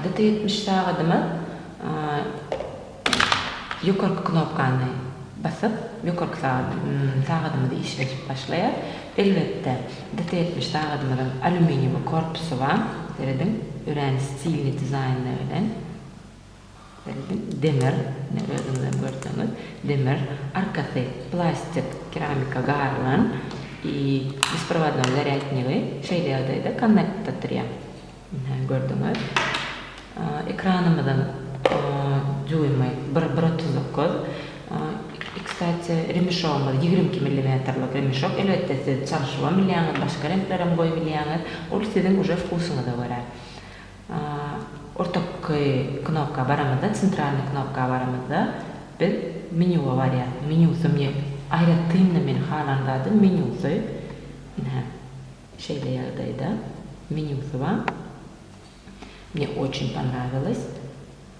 Gt ýetmiş sagadyma ýokarky knopkany basyp ýokarky sagadymyzy işledip başlaýar. Elbetde gt ýetmiş sagadymyzyň alýuminiýumy korpusy bar. Serediň örän stilni dizaýnda bilen. Demir, ine, özüňizem görseňiz, demir, arkasy plastik keramika garylan i besprovadnoý zarýadnigi şeýle ýagdaýda konnektda turýar. Ine, gördüňiz. Ekranymyzyň düwümi bir, bir otuz dokuz. I, kstati, remişogymyz ýigrimi iki millimetrlik remişok. Elbetde, siz çalyşybam bilýäňiz, başga reňklerem goýup bilýäňiz. Ol siziň uje wkusyňyza görä. Ortaky knopka baramyzda, Centralnyý knopka baramyzda biz Menýuwa barýas. Menýusy mňe aýratyn-da meniň halan zadym menýusy. Ine, şeýle ýagdaýda menýusy bar. Mňe oçin ponrawilas.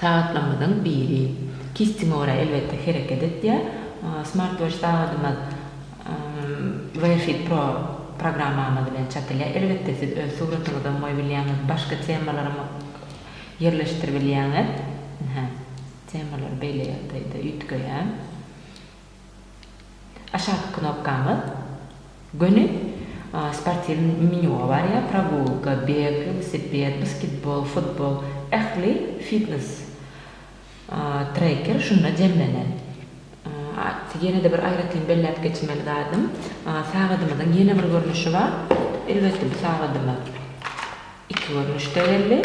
Sagatlarymyzyň biri kistiňe görä elbetde hereket etýär. Smartwatch sagadymyz WearFit Pro programmamyz bilen çatylýar. Elbetde siz öz suratyňyzam goýup bilýäňiz, başga temalaram ýerleşdirip bilýäňiz. Hä, temalary beýle ýagdaýda üýtgeýär. Aşaky knopkaňyz göni sportiwny menýuga barýar, progulka, beg, welosiped, basketbol, futbol, ähli fitnes treker şunda jemlenen. Ýene-de bir aýratyn belläp geçmeli zadym, sagadymyzyň ýene bir görnüşi bar. Elbetde bu sagadymyz iki görnüşde geldi.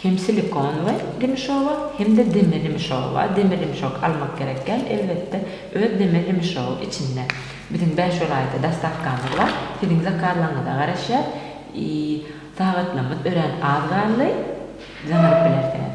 Hem silikon we dimişowa, hem-de deme dimişowa, deme dimişok almak gerek däl, elbetde, öz deme dimişow içinde. Biziň bäş welaýata dostawkamyz bar, siziň zakazlaryňyza garaşýas, i, sagatlamyz örän az galdy, zyňyryp bilersiňiz.